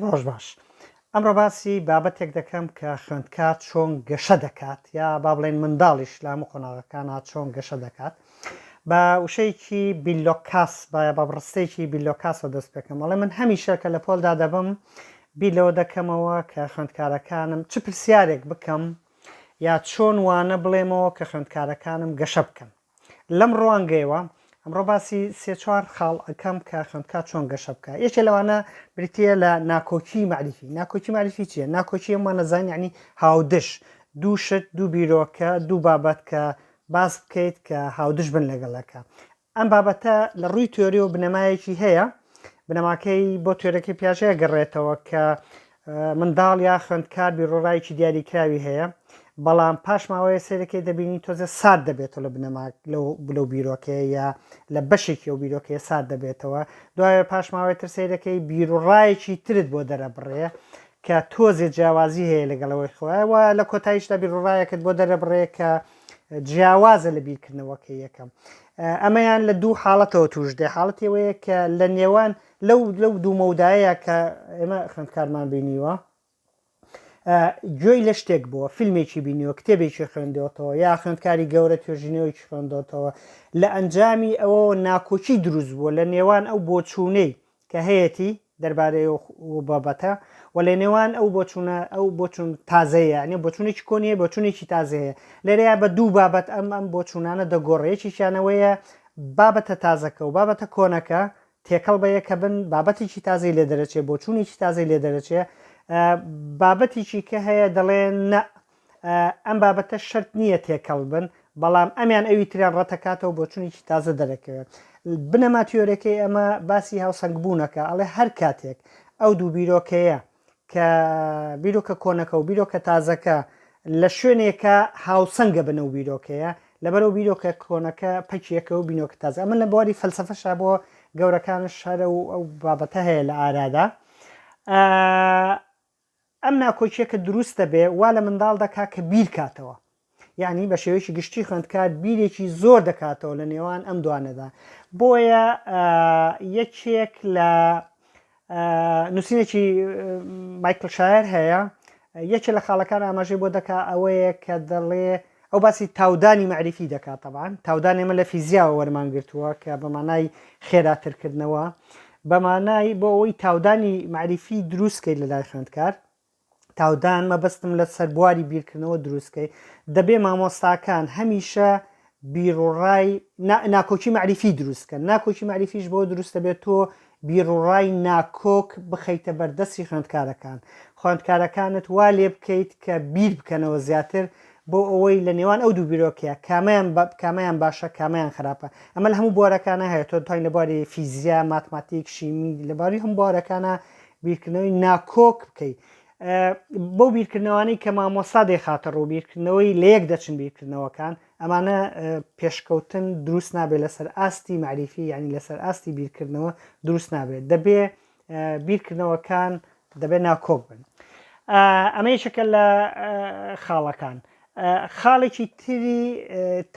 ڕۆژ باش. ئەمڕۆ باسی بابەتێک دەکەم کە خوێندکار چۆن گەشە دەکات یا با بڵێن منداڵیش لە هەموو قۆناغەکانە چۆن گەشە دەکات. بە وشەیەکی بیلۆکاس با بە بڕستەیەکی بیلۆکاسەوە دەست پێکەم بەڵێ من هەمیشە کە لە پۆلدا دەبم بیر لەوە دەکەمەوە کە خوێندکارەکانم چ پرسیارێک بکەم یا چۆن وانە بڵێمەوە کە خوێندکارەکانم گەشە بکەن لەم ڕوانگەیەوە ئەمڕۆ باسی سێ چوار خاڵ ئەکەم کە خوێندکار چۆن گەشە بکە یەکێ لەوانە بریتە لە ناکۆکی معریفی ناکۆکی معریفی چیە ناکۆکی ئەمە نەزان ینی هاودش دوو شت دوو بیرۆکە دوو بابەت کە باس بکەیت کە هاودش بن لەگەڵەکە ئەم بابەتە لە ڕووی تۆری و بنەمایەکی هەیە بنەماکەی بۆ تۆرەکەی پیاژەیە گەڕێتەوە کە منداڵ یا خوێندکار بیروڕایەکی دیاریکراوی هەیە بەڵام پاش ماوەیە سەیرەکەی دەبینی تۆزێ سارد دەبێتەوە لە بنەما لەو بیرۆکەیە یا لە بەشێکی ئەو بیرۆکەیە سارد دەبێتەوە دوایە پاش ماوەی تر سەیرەکەی بیروڕایەکی ترت بۆ دەرەبڕێ کە تۆزێ جیاوازی هەیە لەگەڵەوەی خۆیەوە لە کۆتاییشدا بیروڕایەکت بۆ دەرەبڕێ کە جیاوازە لە بیرکردنەوەکە یەکەم ئەمەیان لە دوو حاڵەتەوە توش دێ حاڵەتەوەیە کە لە نێوان لەو لەو دوو مەودایە کە ئێمە خوێندکارمان بینیوە گوێی لە شتێک بووە فیلمێکی بینیوە کتێبێکی خوێندەوەتەوە یا خوێندکاری گەورە توێژینەوەیکی خوێندەوەتەوە لە ئەنجامی ئەوە ناکۆکی دروست بووە لە نێوان ئەو بۆچوونەی کە هەیەتی دەربارەی بابەتە و لە نێوان ئەو بۆچوونە ئەو بۆچون تازەیە نێ بۆچونێکی کۆنیە بۆچونێکی تازەیە لەرەیە بە دوو بابەت ئەم ئەم بۆچوونانە دەگۆڕێکیشانەوەیە بابەتە تازەکە و بابەتە کۆنەکە تێکەڵ بە یەکە بن بابەتێکی تازەی لێ دەرەچێ بۆ چوونێکی تازەی لێ دەرەچێ بابەتێکی کە هەیە دەڵێ نە ئەم بابەتە شرت نییە تێکەڵ بن بەڵام ئەمیان ئەوی تریان ڕەتەکاتەوە بۆ چونێکی تازە دەرەکەوێت بنەما تیۆرەکەی ئەمە باسی هاوسەنگ بوونەکە ئەڵێ هەر کاتێک ئەو دوو بیرۆکەیە کە بیرۆکە کۆنەکە و بیرۆکە تازەکە لە شوێنێکە هاوسەنگە بنە و بیرۆکەیە لەبەرەوە بیرۆکە کۆنەکە پەکیەکە و بینۆکە تازە ئەمە لە بواری فەلسفەشا بۆ گەورەکان شارە و ئەو بابەتە هەیە لە ئارادا ئەم ناکۆکیەکە دروستە بێ وا لە منداڵ دەکا کە بیر کاتەوە یانی بە شێوەیەکی گشتی خوێندکار بیرێکی زۆر دەکاتەوە لە نێوان ئەم دوانەدا بۆیە یەکێک لە نووسینێکی مایکل شاعر هەیە یەکێ لە خاڵەکان ئاماژەی بۆ دەکا ئەوەیە کە دەڵێ ئەو باسی تاودانی معریفی دەکات تەبان تاودان ئێمە لە فیزیاوە وەرمان گرتووە کە بەمانای خێراترکردنەوە بەمانای بۆ ئەوەی تاودانی معریفی دروستکەیت لە لای خوێندکار تاودان مەبەستم لە سەر بواری بیرکردنەوە دروستکەی دەبێ مامۆستاکان هەمیشە بیرڕای ناکۆکی معریفی دروستکەن ناکۆکی معریفیش بۆ دروستە بێت تۆ بیرڕای ناکۆک بخەیتە بەردەستی خوێندکارەکان خوێندکارەکانت وا لێ بکەیت کە بیر بکەنەوە زیاتر بۆ ئەوەی لە نێوان ئەو دوو بیرۆکەیە کامیان کامیان باشە کامیان خراپە ئەمە لە هەموو بوارەکانە هەیە تۆ توانین لە باری فیزیا ماتماتیک شیمی لەباری هەم بوارەکانە بیرکردنەوەی ناکۆک بکەی بەو بیرکردنەوانی کە مامۆستا دەیخاتە ڕوو بیرکردنەوەی لە یەک دەچن بیرکردنەوەکان ئەمانە پێشکەوتن دروست نابێت لەسەر ئاستی معریفی ینی لەسەر ئاستی بیرکردنەوە دروست نابێت دەبێ بیرکردنەوەکان دەبێت ناکۆک بن ئەمە یەکێکە لە خاڵەکان خاڵێکی تری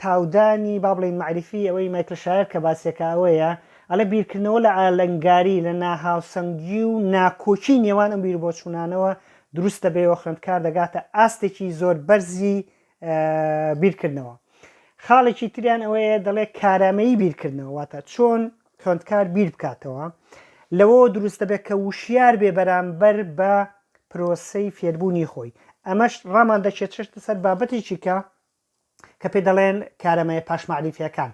تاودانی با بڵێین مەعریفی ئەوەی مایکل شایەر کە باسیەکە ئەوەیە ئەلە بیرکردنەوە لە ئالەنگاری لە ناهاوسەنگی و ناکۆکی نێوان ئەم بیربۆچوونانەوە دروست دەبێەوە خوێندکار دەگاتە ئاستێکی زۆر بەرزی بیرکردنەوە خاڵێکی تریان ئەوەیە دەڵێ کارامەیی بیرکردنەوە واتە چۆن خوێندکار بیر بکاتەوە، لەوەوە دروست دەبێت کە وشیار بێ بەرامبەر بە پرۆسەی فێربوونی خۆی. ئەمەش ڕامان دەکێشێتە سەر بابەتێکی کە کە پێ دەڵێن کارەمەیە پاش مەعریفیەکان.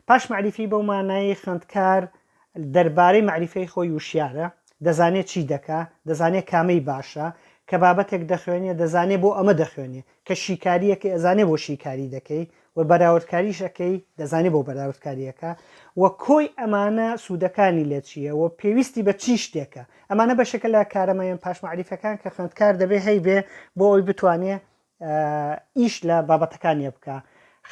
پاش مەعریفی بەو مانایی خوێندکار دەربارەی مەعریفەی خۆی وشیارە، دەزانێت چی دەکا، دەزانێت کامەی باشە، کە بابەتێک دەخوێنێ دەزانێ بۆ ئەمە دەخوێنێ، کە شیکارییەکەی ئەزانێ بۆ شیکاری دەکەی، و بەراوردکاریش ئەکەی دەزانی بۆ بەراوردکاری ئەکا و کۆی ئەمانە سوودەکانی لە چییە و پێویستی بە چی شتێکە ئەمانە بەشێکە لە کارەمەیان پاش مەعریفەکان کە خوێندکار دەبێ هەیبێ بۆ ئەوی بتوانێ ئیش لە بابەتەکانیە بکە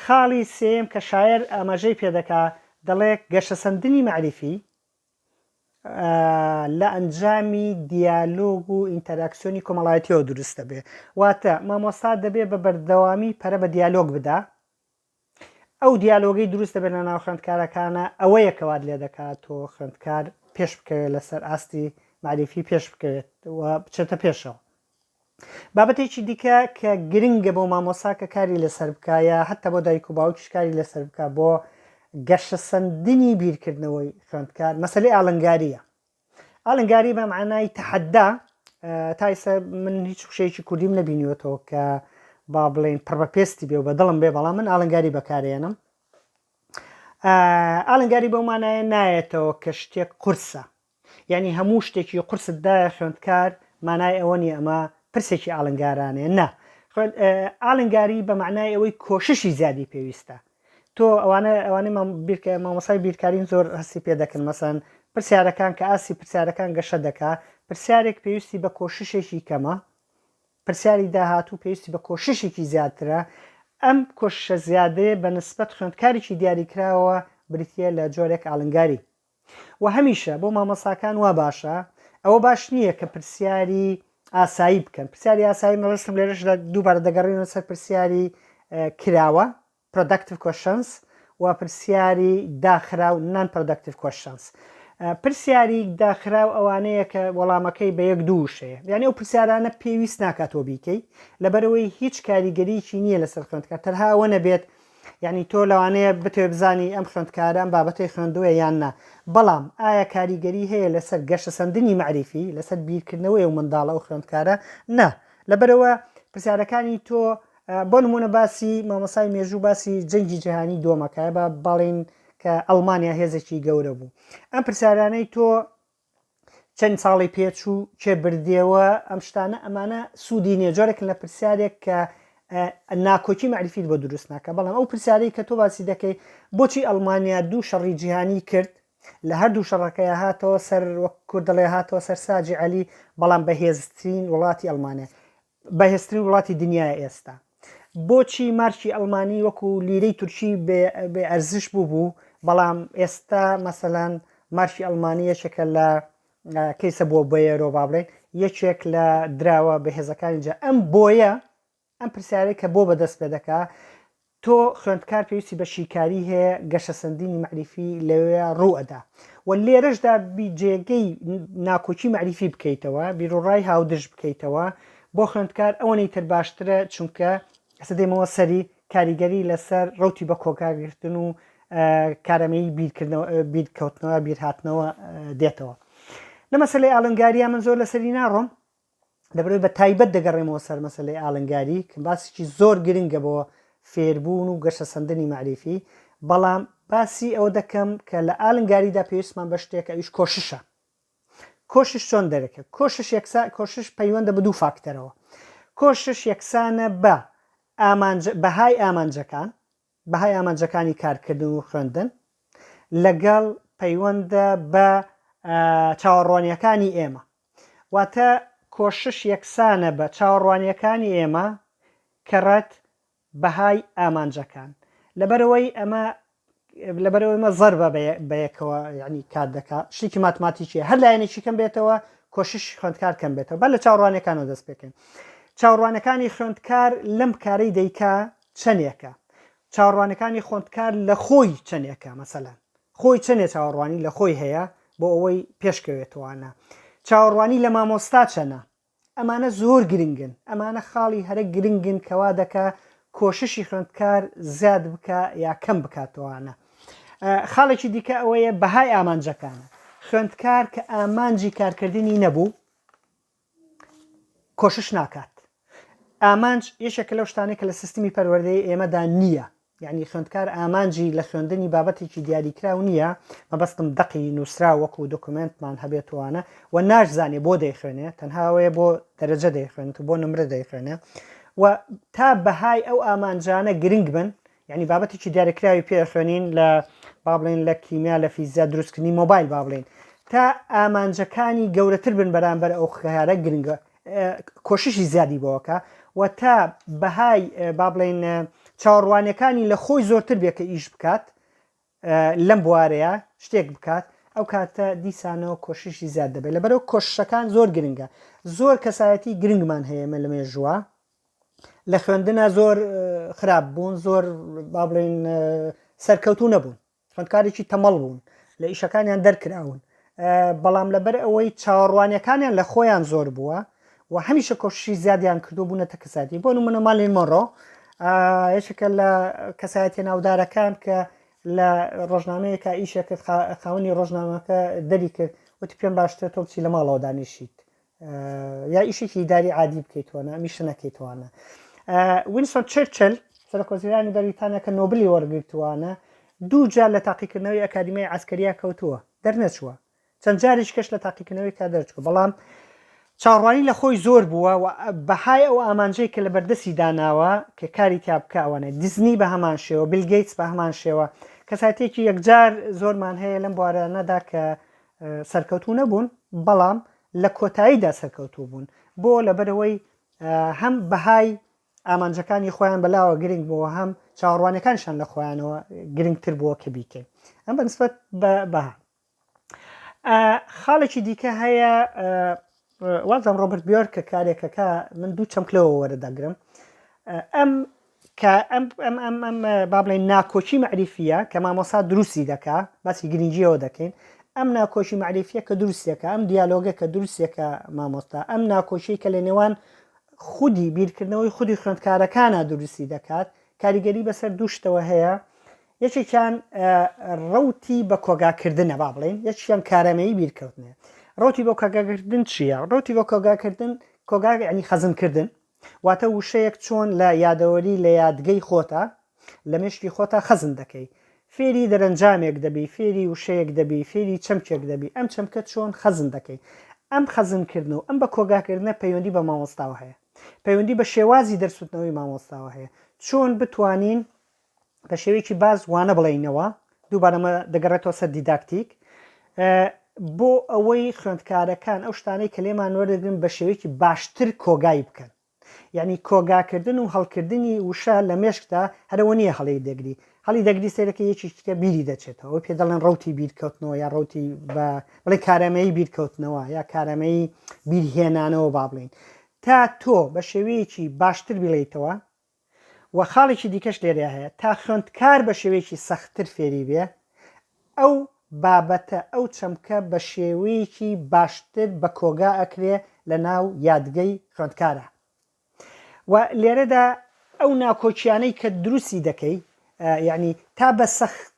خاڵی سێم کە شاعر ئاماژەی پێدەکا دەڵێ گەشەسەندنی مەعریفی لە ئەنجامی دیالۆگ و ئینتەراکسیۆنی کۆمەڵایەتیەوە دروست دەبێ واتە مامۆستا دەبێ بە بەردەوامی پەرە بە دیالۆگ بدا ئەو دیالۆگەی دروست دەبێت لە ناو خوێندکارەکانە ئەوە یەکەوات لێ دەکات و خوێندکار پێش بکەوێت لەسەر ئاستی معریفی پێش بکەوێت و بچێتە پێشەوە بابەتێکی دیکە کە گرنگە بۆ مامۆسا کە کاری لەسەر بکە یا هەتا بۆ دایک و باوکیش کاری لەسەر بکە بۆ گەشەسەندنی بیرکردنەوەی خوێندکار مەسلەی ئالنگاریە ئالنگاری بە معنای تەحەدا تایسە من هیچ شێکی کوردیم نەبینیوەتەوە کە با بڵێن پڕ بە پێستی بێ و بە دڵم بێ بەڵام من ئالنگاری بەکارێنم ئالنگاری بەومانایە نایەتەوە کە شتێک قورسە یانی هەموو شتێکی قورست دایە خوێندکار مانای ئەوە نیە ئەمە پرسێکی ئالنگارانێ نا ئالنگاری بە معنای ئەوەی کۆششی زیادی پێویستە تۆ ئەوانە ئەوانەی بیرکە مامۆسای بیرکارین زۆر هەستی پێ دەکەن مەسەن پرسیارەکان کە ئاسی پرسیارەکان گەشە دەکا پرسیارێک پێویستی بە کۆششێکی کەمە پرسیاری داهاتوو پێویستی بە کۆششێکی زیاترە ئەم کۆششە زیادەیە بە نسبەت خوێندکارێکی دیاریکراوە بریتە لە جۆرێک ئالنگاری وە هەمیشە بۆ مامۆستاکان وا باشە ئەوە باش نییە کە پرسیاری ئاسایی بکەن پرسیاری ئاسایی مەبەستم لێرەشدا دووبارە دەگەڕێنە سەر پرسیاری کراوە پرۆداکتیو کوشنس و پرسیاری داخرا و نان پرۆداکتیو کوشنس پرسیاری داخرا و ئەوانەیە کە وەڵامەکەی بە یەک دووشەیە یعنی ئەو پرسیارانە پێویست ناکاتەوە بیکەی لەبەرەوەی هیچ کاریگەریکی نییە لەسەر خوێندکە تەرها ئەوە نەبێت بێت یانی تۆ لەوانەیە بتوێ بزانی ئەم خوێندکارە ئەم بابەتەی خوێندووە یان نا بەڵام ئایا کاریگەری هەیە لەسەر گەشەسەندنی مەعریفی لەسەر بیرکردنەوەی و منداڵە و خوێندکارە نا لەبەرەوە پرسیارەکانی تۆ بۆ نمونە باسی مامۆسای مێژوو باسی جەنگی جیهانی دۆمەکە بە بەڵین کە ئەڵمانیا هێزێکی گەورە بوو ئەم پرسیارانەی تۆ چەند ساڵی پێچوو کێ بردیەوە ئەم شتانە ئەمانە سوودی نیە جۆرێکن لە پرسیارێک کە ناکۆکی مەعریفیت بۆ دروست ناکە بەڵام ئەو پرسیارەی کە تۆ باسی دەکەی بۆچی ئەڵمانیا دوو شەڕی جیهانی کرد لە هەردوو شەڕەکەی هاتەوە سەر وەک کوردڵێ هاتەوە سەر ساجی علی بەڵام بەهێزترین وڵاتی ئەلمانیا بەهێزترین وڵاتی دنیایە ئێستا بۆچی مارکی ئەڵمانی وەکو لیرەی تورکی بێ ئەرزش بوو بوو بەڵام ئێستا مەسەلەن مارکی ئەڵمانی یەکێکە لە کەیسە بۆ بەیەرۆ با بڵێن یەکێک لە دراوە بەهێزەکانی جا ئەم بۆیە ئەم پرسیارەی کە بۆ بەدەست پێ دەکا تۆ خوێندکار پێویستی بە شیکاری هەیە گەشەسەندنی مەعریفی لەوێ ڕوو ئەدا و لێرەشدا بی جێگەی ناکۆکی مەعریفی بکەیتەوە بیرۆڕای هاودرژ بکەیتەوە بۆ خوێندکار ئەوەنەی تر باشترە چونکە ئەسە دێمەوە سەری کاریگەری لەسەر ڕوتی بە کۆگاگرتن و کارەمەی بیرکردنەوە بیرکەوتنەوە بیرهاتنەوە دێتەوە لە مەسلەی ئالنگاریا من زۆر لەسەری ناڕۆم لەبەر بە تایبەت دەگەڕێمەوە سەر مەسلەی ئالنگاری کە باسیی زۆر گرنگە بۆ فێربوون و گەشە سندنی معریفی بەڵام باسی ئەوە دەکەم کە لە ئالنگاریدا پێویستمان بە شتێک ئەویش کۆششە کۆشش چۆن دەرەکە کۆشش یەکسا کۆشش پەیوەندە بە دوو فاکتەرەوە کۆشش یەکسانە بە ئامانج بەهای ئامانجەکان بەهای ئامانجەکانی کارکردن و خوێندن لەگەڵ پەیوەندە بە چاوەڕوانیەکانی ئێمە واتە کۆشش یەکسانە بە چاوەڕوانیەکانی ئێمە کەڕەت بەهای ئامانجەکان لەبەرەوەی ئەمە لەبەرەوەی مە زەربە بەیەکەوە ینی کار دەکا شتێکی ماتماتیکیە هەر لایەنێکی کەم بێتەوە کۆشش خوێندکار کەم بێتەوە بە لە چاوڕوانەکانەوە دەست پێکەین چاوڕوانەکانی خوێندکار لەم کارەی دەیکا چەنێکە چاوەڕوانەکانی خۆندکار لە خۆی چەنێکە مەسەلەن خۆی چەنێ چاوەڕوانی لە خۆی هەیە بۆ ئەوەی پێشکەوێتوانە چاوەڕوانی لە مامۆستا چەنە ئەمانە زۆر گرنگن ئەمانە خاڵی هەرە گرنگن کەوا دەکە کۆششی خوێندکار زیاد بکە یا کەم بکاتەوانە خاڵێکی دیکە ئەوەیە بەهای ئامانجەکانە خوێندکار کە ئامانجی کارکردنی نەبوو کۆشش ناکات ئامانج یەکێکە لەو شتانەی کە لە سیستمی پەروەردەی ئێمەدا نییە یعنی خوێندکار ئامانجی لە خوێندنی بابەتێکی دیاریکراو نییە مەبەستم دەقی نووسرا وەکو دۆکمنتمان هەبێتوانە و ناشزانێ بۆ دەیخوێنێ تەنهاوەیە بۆ دەرەجە دەیخوێنێت بۆ نمرە دەیخوێنێ و تا بەهای ئەو ئامانجانە گرنگ بن یانی بابەتێکی دیارەکراوی پێ خوێنین لە با بڵێن لە کیمیا لە فیزیا دروستکردنی مۆبایل با بڵێن تا ئامانجەکانی گەورەتر بن بەرامبەر ئەو خیارە گرنگە کۆششی زیادی بۆکە و تا بەهای با بڵێن چاوەڕوانەکانی لە خۆی زۆرتر بێ کە ئیش بکات لەم بوارەیە شتێک بکات ئەو کاتە دیسانەوە کۆششی زیاد دەبێت لە بەرەو کۆششەکان زۆر گرنگە زۆر کەسایەتی گرنگمان هەیەمە لە مێژووە لە خوێندنا زۆر خراپ بوون زۆر با بڵێن سەرکەوتو نەبوون خوندکارێکی تەمەڵ بوون لە ئیشەکانیان دەرکراون بەڵام لەبەر ئەوەی چاوەڕوانەکانیان لە خۆیان زۆر بووە و هەمیشە کۆشی زیادیان کردو بوونە تە کەساتی بۆ منە مالی مۆڕۆ یەکێکە لە کەسایەتی ناودارەکان کە لە ڕۆژنامەیەکە ئیشەکە خاونی ڕۆژنامەکە دەری کرد وتی پێم باشتر تۆ بچی لە ماڵەوە دانیشیت یا ئیشێکی داری عادی بکەیتوانە میشە نەکەیتوانە وینسۆن چرچل سەرکۆزیرانی بەریتانیا کە نۆبلی وەرگرتووانە دوو جار لە تاقیکردنەوەی ئەکادیمیای ئەسکەریا کەوتووە دەرنەچووە چەند جاریش کەش لە تاقیکردنەوەی کا دەرچوە بەڵام چاڕوانی لە خۆی زۆر بووە و بەهای ئەو ئامانجەی کە لە بەردەستی داناوە کە کاری تیا بکەوانە دیزنی بە هەمان شێوە بلگەیتس بە هەمان شێوە کەساتێکی یەکجار زۆرمان هەیە لەم بوارانەدا کە سەرکەوتوو نەبوون بەڵام لە کۆتاییدا سەرکەوتوو بوون بۆ لەبەرەوەی هەم بەهای ئامانجەکانی خۆیان بەلاوە گرنگ بۆ هەم چاوەڕوانەکانشان لە خۆیانەوە گرنگتر بووە کە بیکەین ئەم بەنسبەت بە بەها خاڵێکی دیکە هەیە وازم ڕۆبرت بیۆرکە کارێکەکە من دوو چەمک لەوە وەرەدەگرم ئەم کە ئەم ئەم ئەم ئەم با بڵێن ناکۆکی مەعریفیە کە مامۆسا دروستی دەکا باسی گرنگیەوە دەکەین ئەم ناکۆشی مەعریفیە کە دروستێکە ئەم دیالۆگە کە دروستێکە مامۆستا ئەم ناکۆشی کە لە نێوان خودی بیرکردنەوەی خودی خوێندکارەکانە دروستی دەکات کاریگەری بەسەر دووشتەوە هەیە یەکێکیان ڕەوتی بە کۆگاکردنە با بڵێن یەکیان کارەمەیی بیرکەوتنێ ڕۆتی بۆ کاگاکردن چییە ڕۆتی بۆ کۆگاکردن کۆگا ینی خەزنکردن واتە وشەیەک چۆن لە یادەوەری لە یادگەی خۆتا لە مشتی خۆتا خەزن دەکەی فێری دەرەنجامێک دەبی فێری وشەیەک دەبی فێری چەمکێک دەبی ئەم چەمکە چۆن خەزن دەکەی ئەم خەزنکردن و ئەم بە کۆگاکردنە پەیوەندی بە مامۆستاوە هەیە پەیوەندی بە شێوازی دەرسوتنەوەی مامۆستاوە هەیە چۆن بتوانین بە شێوەیەکی باز وانە بڵێینەوە دووبارەمە دەگەڕێتەوە سەر دیداکتیک بۆ ئەوەی خوێندکارەکان ئەو شتانەی کە لێمان وەردەگرن بە شێوەیەکی باشتر کۆگای بکەن یعنی کۆگاکردن و هەڵکردنی وشە لە مێشکدا هەرەوە نییە هەڵی دەگری هەڵی دەگری سێرەکە یەکی تکە بیری دەچێتەوە ئەو پێ دەڵێن ڕوتی بیرکەوتنەوە یا ڕوتی بە بڵێ کارەمەیی بیرکەوتنەوە یا کارەمەیی بیرهێنانەوە با بڵین تا تۆ بە شێوەیەکی باشتر بڵیتەوە وە خاڵێکی دیکەش لێرەیا هەیە تا خوێندکار بە شێوەیەکی سەختتر فێری بێ ئەو بابەتە ئەو چەمکە بە شێوەیەکی باشتر بە کۆگا ئەکرێ لە ناو یادگەی خوێندکارا و لێرەدا ئەو ناکۆکیانەی کە دروستی دەکەی یعنی تا بە سەخت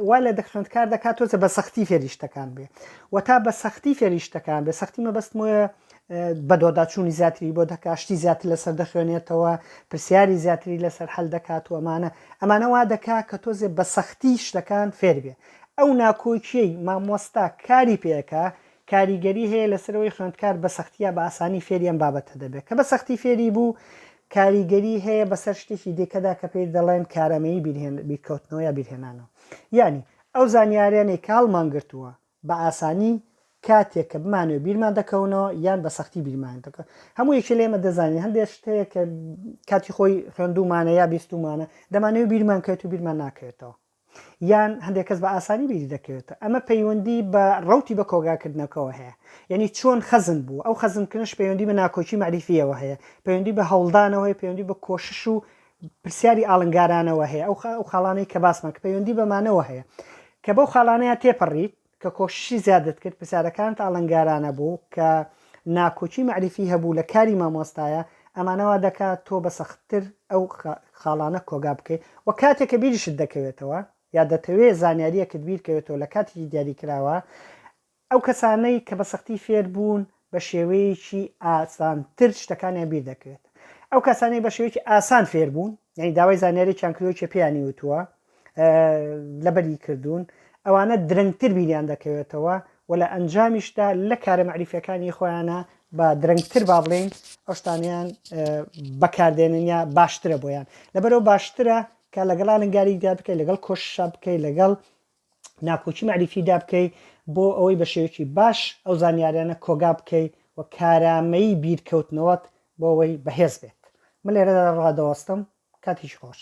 وای لە دەخوێندکار دەکات تۆزێ بە سەختی فێری شتەکان بێ و تا بە سەختی فێری شتەکان بێ سەختی مەبەستم وە بەدۆداچوونی زیاتری بۆ دەکات شتی زیاتر لەسەر دەخوێنێتەوە پرسیاری زیاتری لەسەر هەل دەکات و ئەمانە ئەمانە وا دەکا کە تۆزێ بە سەختی شتەکان فێر بێ ئەو ناکۆکیەی مامۆستا کاری پێەکە کاریگەری هەیە لەسەر ئەوەی خوێندکار بە سەختی یا بە ئاسانی فێری ئەم بابەتە دەبێت، کە بە سەختی فێری بوو کاریگەری هەیە بەسەر شتێکی دیکەدا کە پێی دەڵێن کارامەیی بیرهێن، بیرکەوتنەوە یا بیرهێنانەوە. یانی ئەو زانیاریانەی کە هەڵمان گرتووە بە ئاسانی کاتێک کە بمانەوێت بیرمان دەکەونەوە یان بە سەختی بیرمان دەکەن. هەموو یەکێ لە ئێمە دەزانین هەندێک شت هەیە کە کاتی خۆی خوێندوومانە یا بیستوومانە، دەمانەوێت بیرمان کەوێت و بیرمان ناکەوێتەوە. یان هەندێک کەس بە ئاسانی بیری دەکەوێتە ئەمە پەیوەندی بە ڕوتی بە کۆگاکردنەکەەوە هەیە یعنی چۆن خەزن بوو ئەو خەزنکردنش پەیوەندی بە ناکۆکی مەریفیەوە هەیە پەیوەندی بە هەوڵدانەوەی پەیوەندی بە کۆشش و پرسیاری ئاڵنگارانەوە هەیە ئەو خاڵانەی کە باسمان کە پەیوەندی بەمانەوە هەیە کە بەو خاڵانەیە تێپەڕیت کە کۆششی زیادت کرد پرسیارەکانت ئاڵنگارانە بوو کە ناکۆکی مەعریفی هەبوو لە کاری مامۆستایە ئەمانە وا دەکا تۆ بە سەختتر ئەو خاڵانە کۆگا بکەی وە کاتێک کە بیریشت دەکەوێتەوە یا دەتەوێ زانیاریەکت بیرکەوێتەوە لە کاتێکی دیاریکراوە ئەو کەسانەی کە بە سەختی فێر بوون بە شێوەیەکی ئاسانتر شتەکانیان بیر دەکرێت ئەو کەسانەی بە شێوەیەکی ئاسان فێربوون یعنی داوای زانیارێکیان کردوەکێ پێیانی وتووە لەبەری کردوون ئەوانە درەنگتر بیریان دەکەوێتەوە و لە ئەنجامیشدا لە کارە مەعریفەکانی خۆیانە بە درەنگتر با بڵین ئەوشتانیان بەکاردێنن یا باشترە بۆیان لەبەرەوە باشترە کە لەگەڵ ئالنگاریدا بکەیت لەگەڵ کۆششا بکەیت لەگەڵ ناکۆکی مەعریفی دابکەی بۆ ئەوەی بە شێوەیەکی باش ئەو زانیاریانە کۆگا بکەی و کارامەیی بیرکەوتنەوەت بۆ ئەوەی بەهێز بێت من لێرەدا ڕادەوەستم کاتێکی خۆش.